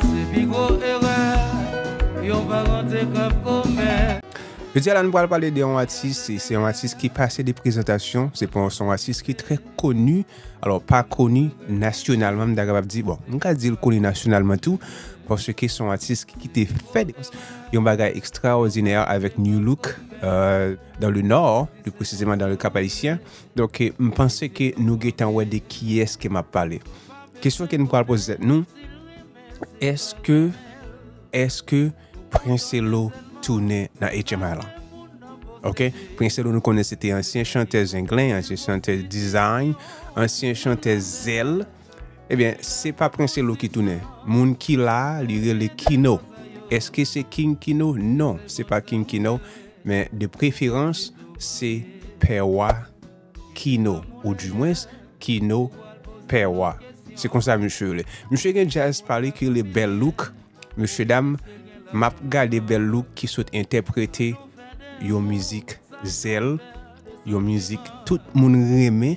Se pi gwo erè yon paran te kab komèt. Jodi a la nou pral pale de yon atis, se yon atis ki pase de prezantasyon, se pa yon son atis ki trè koni, alò pa koni nasyonalman m ta kapab di, bon m ka di l koni nasyonalman tou, paske son atis ki te fè yon bagay ekstraòdinè avèk Nu Look, dans le Nord, pli presizeman dans le Cap-Haïtien, Donk m panse ke nou gentan wè de kiyès ke m ap pale. Kesyon ke nou pral poze tèt nou, èske, èske Princelo tounen nan HMI lan? Ok, Princelo nou konnen se te ansyen chantè Zenglen, ansyen chantè Dizayn, ansyen chantè Zèl. Ebyen, eh se pa Princelo ki tounen. Moun ki la, li rele Kino. Èske se King Kino? Non, se pa King Kino. Men de preferans se pè wa kino ou di mwens kino pè wa se konsa misye rele misye gen jazz pali ki rele bèl louk mesye dam map gade bèl louk ki sot entèprete yon mizik zèl yon mizik tout moun renmen.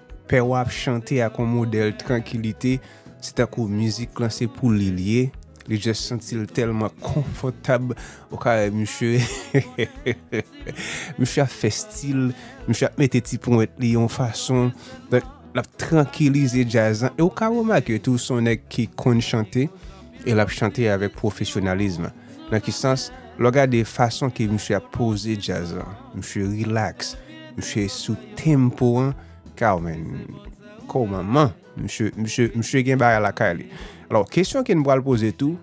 Pè wa ap chante ak yon modèl trankilite, se tankou mizik lan se pou li li ye, li just santi l tèlman konfòtab, ou ka wè misye, misye ap fè stil, misye ap mete ti ponwèt li yon fason, donk l ap trankilize djaz lan, e ou ka remake tou se yon nèg ki konn chante, e l ap chante avèk pwofesyonalism. Nan ki sans? Lè w gade fason ke misye ap poze djaz lan, misye rilaks, misye sou tempo an, kaw men, kou manman, misye, misye, misye gen bagay lakay li. Alò, kesyon ke n pral poze tou,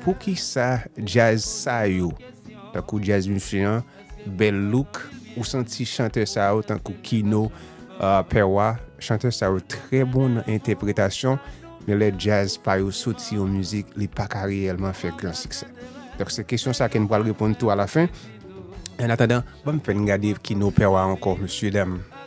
poukisa djaz sa yo, tankou djaz misye an, bèl look ou santi chantè sa yo tankou kino pè wa chantè sa yo trè bon nan entèpretasyon men lè djaz pa yo soti yon mizik li pa ka reyèlman fè gran siksè donk se kesyon sa ke n pral reponn tou a la fen an atandan banm fè n gade kino pè wa ankò mesye dam.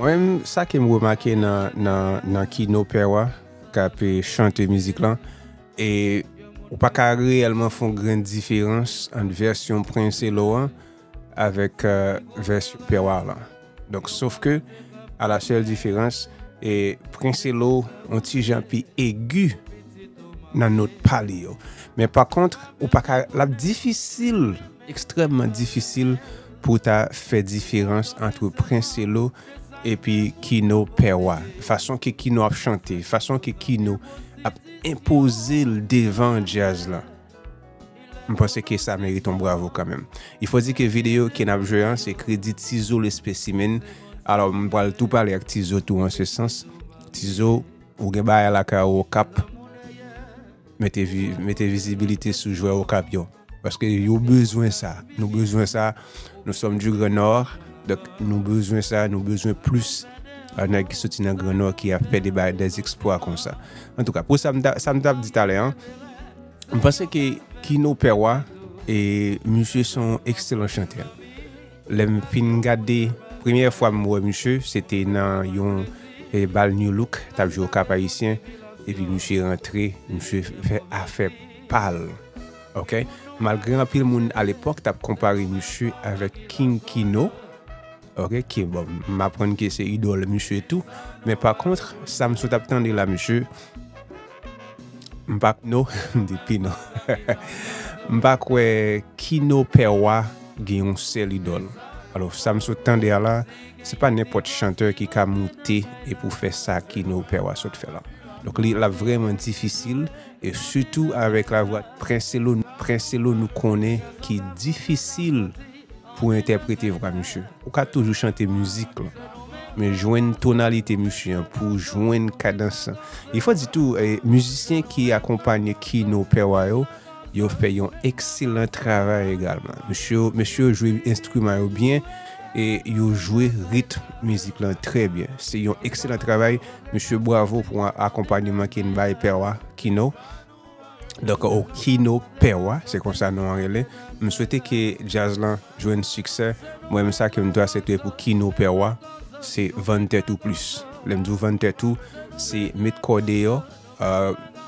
Mwen menm sa ke m remake nan kino pè wa k ap chante mizik lan e ou pa ka reyèlman fon grenn diferans ant vèsyon Prinselo an avèk vèsyon pè wa lan. Donk sof ke a la sèl diferans e Prinselo on ti jan pi egi nan not pa li yo. Men pa kont ou pa ka l ap difisil. Ekstrèmman difisil pou w ta fè diferans antre Princelo epi Kino pè wa. Fason ke Kino ap chante, fason ke Kino ap enpoze l devan djaz la. M panse ke sa merite yon bravo kanmenm. Il faut dire ke videyo ke n ap jwe an se kredi Tizo le Specimen. Alò m pral tou pale ak Tizo tou an se sans. Tizo, ou gen bagay lakay ou Okap. Mete vizibilite sou jwè Okap yo. Paske yo bezwen sa. Nou bezwen sa. Nou som du Grand Nord. Donk nou bezwen sa. Nou bezwen plus nèg ki soti nan Grand Nord ki ap fè de bagay, des exploits konsa. An tou ka, pou sa m t ap di talè an, m panse ke Kino Pè Wa, misye son ekselan chantè. Lèm fin gade premyè fwa m wè misye se te nan yon bal new look tap jwe au cap haïtien epi misye rantre misye fè afè pal ok malgre anpil moun a lepòk tap konpare misye avèk king kino ok ki bon m aprann ke se idòl misye tou men pa kontr sa m sot ap tande la misye M pa kno m di pino m pa kwè kino pè wa gen yon sèl idòl alò sa m sot tande a la se pa nenpòt chantè ki ka moute e pou fè sa kino pè wa sot fè la donk li l ap vrèman difisil e sitou avèk lavwa prenselo nou konnen ki difisil pou entèprete vwa misye. Ou ka toujou chante mizik lan, men jwenn tonalite misye an pou w jwenn kadans lan. Il fò di tou, mizisyen ki akonpanye Kino Pè Wa yo, yo fè yon ekselan travay egalman. Mesye yo, mesye yo jwe enstriman yo byen e yo jwe ritm mizik lan trè byen. Se yon ekselan travay, mesye bwavo pou akonpanyeman ke n bay Pè Wa, Kino. Donk Okino pè wa se konsa non an rele. M swete ke djaz lan jwenn siksè. Mwen menm sa ke m dwe asepte pou Kino pè wa se vann tèt ou plis. Lè m di w vann tèt ou se met kò w deyò,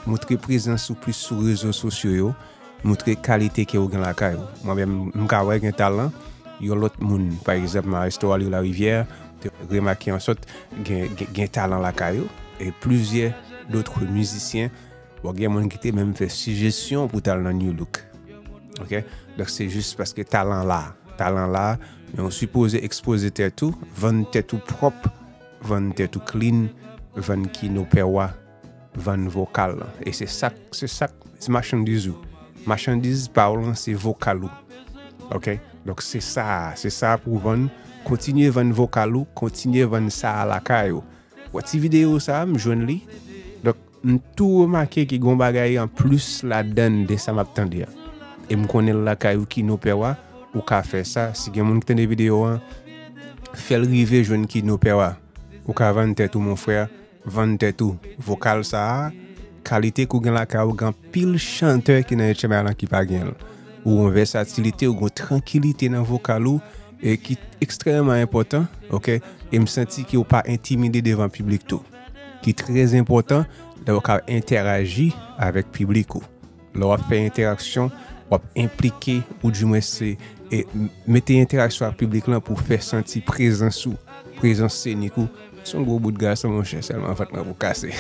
montre prezans ou plis sou rezo sosyo yo, montre kalite ke ou gen lakay ou. Mwen menm m ka wè gen talan yon lòt moun. Pa egzanp Maestro Aly Larivière te remake an sòt gen talan lakay ou e plizyè dotre mizisyen Bon gen moun ki te menm fè sijesyon pou tal nan New Look. Ok, dok se jis paske talan la, talan la, men ou sipoze ekspoze tè tou, vann tè tou pwop, vann tè tou clean, vann ki nou pè wa, vann vokal la. E se sak, se sak, se machandiz ou. Machandiz pa ou lan se vokal ou. Ok, dok se sa, se sa pou vann, kontinye vann vokal ou, kontinye vann sa lakay ou. Wè ti video sa a m jwenn li. Donk m tou remake ke gen yon bagay an plis ladann de sa m ap tande a. E m konnen lakay ou ki no pè wa, ou ka fè sa. Si gen moun ki tande video an, fè l rive jwenn ki no pè wa. Ou ka vann tèt ou mon frè, vann tèt ou. Vokal sa a, kalite ke ou gen lakay ou, gen anpil chantè ki nan etchenay lan ki pa gen l. Ou gen yon vèsatilite, ou gen yon trankilite nan vokal ou. e ki ekstrèmeman enpòtan ok e m santi ke ou pa entimide devan piblik tou ki trè enpòtan lè ou ka entèraji avèk piblik ou lè w ap fè entèraksyon w ap enplike ou di mwen se e mete entèraksyon ak piblik lan pou fè santi prezans ou prezans senik ou son gwo bout gason monchè sèlman vant mwen pou kase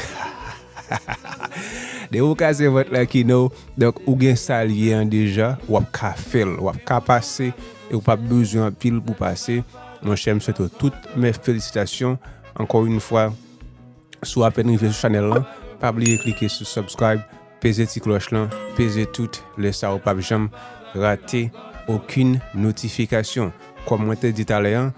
Depi ou kraze vant la kino, donk ou gen sa l ye an deja, w ap ka fè l, w ap ka pase e ou p ap bezwen anpil pou pase. Monchè m swete w tout mè felisitasyon ankò yon fwa. Si w apèn rive sou chanèl lan, pa bliye klike sou subscribe, peze ti klòch lan, peze tout, lè sa ou p ap janm rate okenn notifikasyon. Kòm mwen te di talè an.